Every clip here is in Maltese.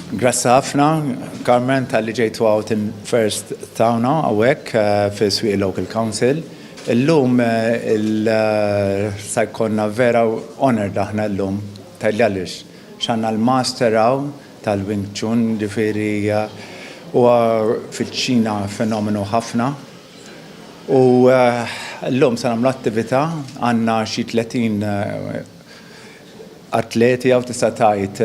Grazzi ħafna, Carmen, tal-li ġejtu għawt in first tawna għawek eh, fi Swiq Local Council. Illum eh, il-sajkonna eh, vera honor daħna illum, tal-li għalix, xanna l-master għaw tal-Wing Chun, ġifiri u fil-ċina fenomenu ħafna. U l-lum sa' namlu attivita għanna xie 30 atleti hawn tista' tgħid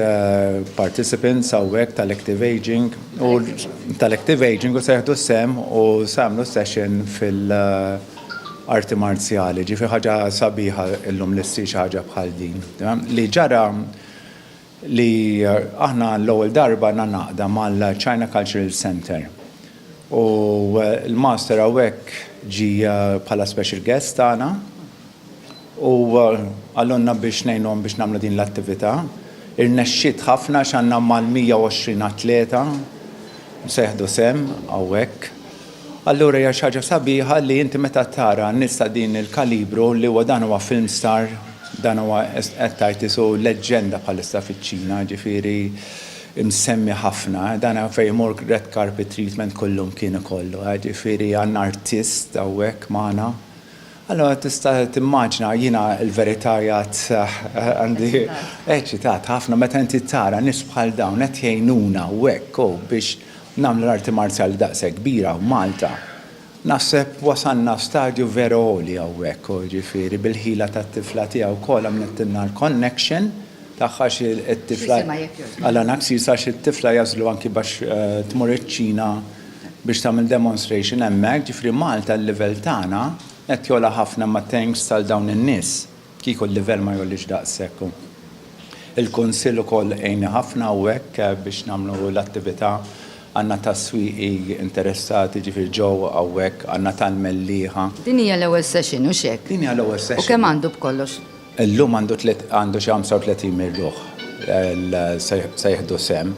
participants hawnhekk tal-active ageing u tal-active ageing u se jieħdu sehem u se jagħmlu session fil-arti marzjali. Ġifi ħaġa sabiħa illum li ssir xi ħaġa bħal din. Li ġara li aħna għall-ewwel darba għandna għaqda mal-China Cultural Centre u l-Master hawnhekk ġie bħala special guest tagħna u qalulna biex ngħinuhom biex nagħmlu din l-attività. Irnexxiet ħafna għax għandna mal-120 atleta se jieħdu sehem hawnhekk. Allura hija xi ħaġa sabiħa li inti meta tara nies ta' din il-kalibru li huwa dan huwa film star, dan huwa qed tgħid isu leġġenda bħalissa fiċ-Ċina, jiġifieri msemmi ħafna, dan fejn imur red carpet treatment kullum kien ikollu, jiġifieri għandna artist hawnhekk magħna. Allura tista' timmaġina jiena l-verità jgħid għandi eċitat ħafna meta inti tara nies bħal dawn qed jgħinuna hawnhekk biex Nagħmlu l-arti marzjali daqshekk kbira hawn Malta. Naħseb wasalna stadju veru għoli hawnhekk u jiġifieri bil-ħila tat-tifla tiegħi wkoll għamlittilna l-connection tagħha xi t-tifla Alan Axis għax it-tifla jagħżlu anki biex tmur iċ-Ċina biex tagħmel demonstration hemmhekk. Ġifieri Malta l-livell tagħna qed jogħla ħafna imma thanks għal dawn in-nies. Kieku l-livell ma jgħollix daqshekk u l-Kunsill ukoll għinni ħafna u hekk biex nagħmlu l-attività. Għandna tas-swieqi interessati, ġifieri ġew hawnhekk, għandna tal-mellieħa. Din hija l-ewwel session, hux hekk? Din hija l-ewwel session. U kemm għandu b'kollox? Illum għandu tliet għandu xi 35 mil ruħ se jieħdu sehem,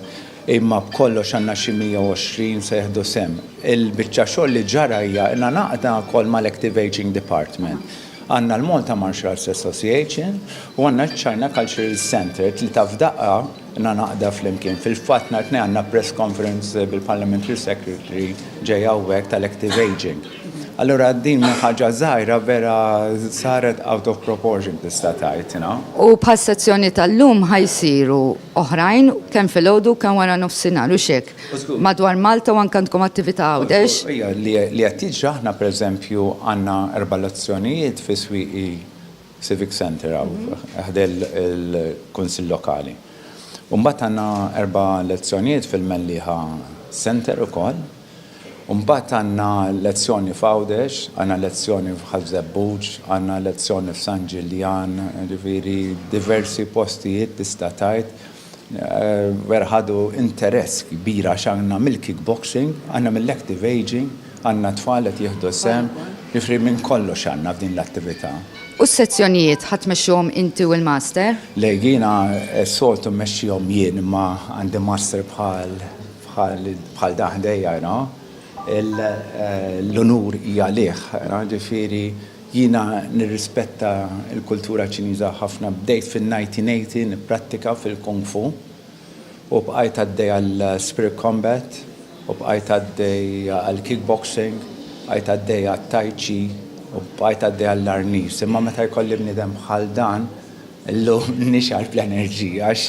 imma b'kollox għandna xi 120 se jieħdu sehem. Il-biċċa xogħol li ġara hija ilna ngħaqdna wkoll mal-Active Ageing Department. Għandna l-Malta Martial Arts Association u għandna ċ-China Cultural Centre, tlieta f'daqqa na naqda flimkien. Fil-fatt nhar it-Tnejn għandna press conference bil-Parliamentary Secretary ġej hawnhekk tal-Active Aging. Allura din minn ħaġa żgħira vera saret out of proportion tista' tgħid, you know. U bħas-sezzjoni tal-lum ħa jsiru oħrajn kemm filgħodu kemm wara nofsinhar, hux hekk? madwar Malta u anke għandkom attività Għawdex. Ija, li qed jiġri aħna pereżempju għandna erba' lezzjonijiet fi Swieqi Civic Centre hawn ħdejn il-Kunsill Lokali. U mbagħad għandna erba' lezzjonijiet fil-Mellieħa Centre ukoll. U mbagħad għandna lezzjoni f'Għawdex, għandna lezzjoni f'Ħaż-Żebbuġ, għandna lezzjoni f'San Ġiljan, jiġifieri diversi postijiet tista' tgħid. Vera ħadu interess kbir għax għandna mill-kickboxing, għandna mill-active ageing, għandna tfal qed jieħdu sehem, jiġifieri minn kollox għandna f'din l-attività. U s-sezzjonijiet ħa tmexxuhom inti u l-master? Le, jiena s-soltu mmexxihom jien imma għandi master bħal bħal dan ħdejja, you know. L-unur hija għalih, jiġifieri. Jiena nirrispetta l-kultura Ċiniża ħafna. Bdejt fin-1980 nipprattika fil-Kung Fu u bqajt għaddej għal Spirit Combat u bqajt għaddej għal Kickboxing, bqajt għaddej għat-Tai Chi u bqajt għaddej għall-Arnis. Imma meta jkolli bniedem bħal dan llum nixgħar bl-enerġija għax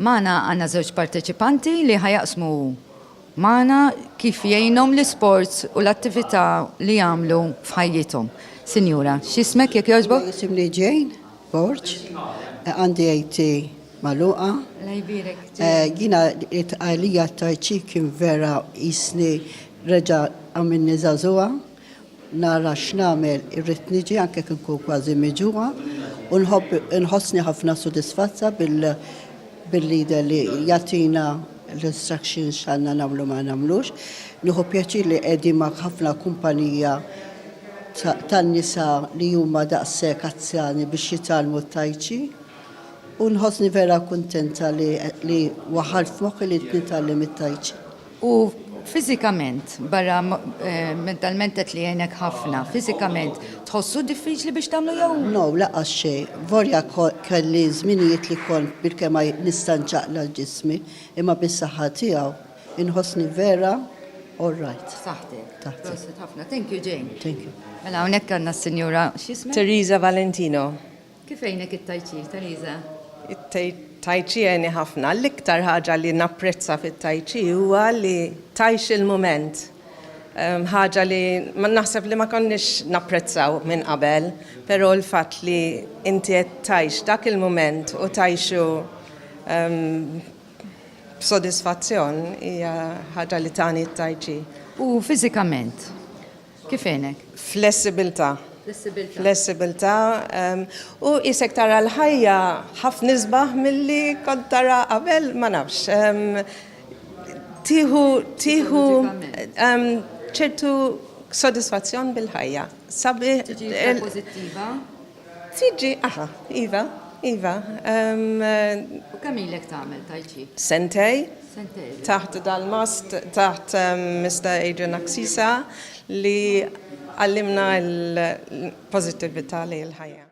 Magħna għandna żewġ parteċipanti li ħa jaqsmu magħna kif jgħinhom l-isports u l-attività li jagħmlu f'ħajjithom. Sinjura, x'ismek jekk jogħġbok? Isimni Jane Borg, għandi AT magħluqa. Jiena għalija t-tajċi kien vera jisni reġa' għamilni żagħżugħa Nara x'nagħmel, irrid niġi anke jekk inkun kważi miġugħa u nħobb inħossni ħafna sodisfazza bil bil-leader li jagħtina l-instructions x'għandna nagħmlu ma nagħmlux. Nieħu pjaċir li qegħdin ma' ħafna kumpanija tan-nisa li huma daqshekk azzjani biex jitgħallmu t-tai chi u nħossni vera kuntenta li li waħħalt f'moħħi li nitgħallem it-tai chi. U fiżikament, barra mentalment qed li jgħinek ħafna, fiżikament tħossu diffiċli biex tagħmlu jew? No, laqqas xejn. Volja kelli żminijiet li kont bilkemm ma nista' nċaqla' l ġismi, imma bis-saħħa tiegħu inħossni vera all right. F'saħħtek. Taħt. Prosit ħafna. Thank you Jane. Thank you. Mela hawnhekk għandna s-Sinjura x'jisma'? Teresa Valentino. Kif għinek it-Tai Chi, Teresa? It-Tai Chi għeni ħafna. L-iktar ħaġa li napprezza fit-Tai Chi huwa li tajx il-mument. Ehm, ħaġa li ma naħseb li ma konniex napprezzaw minn qabel, però l-fatt li inti qed tajx dak il-mument u tajxu ehm, b'sodisfazzjon hija ħaġa li tani t-tajċi. U fiżikament? Kif għenek? Flessibilità. Flessibilità. Flessibilità. U isek tara l-ħajja ħafna isbaħ milli kont tara qabel ma nafx. Tiħu tiħu ċertu sodisfazzjon bil-ħajja. Sabi. Pozittiva. Siġġi, aha, iva, iva. U kemm ilek tagħmel tai chi? Sentej. Sentej. Taħt dal-mast, taħt Mr. Adrian Aksisa li għallimna l-pozittività li l-ħajja.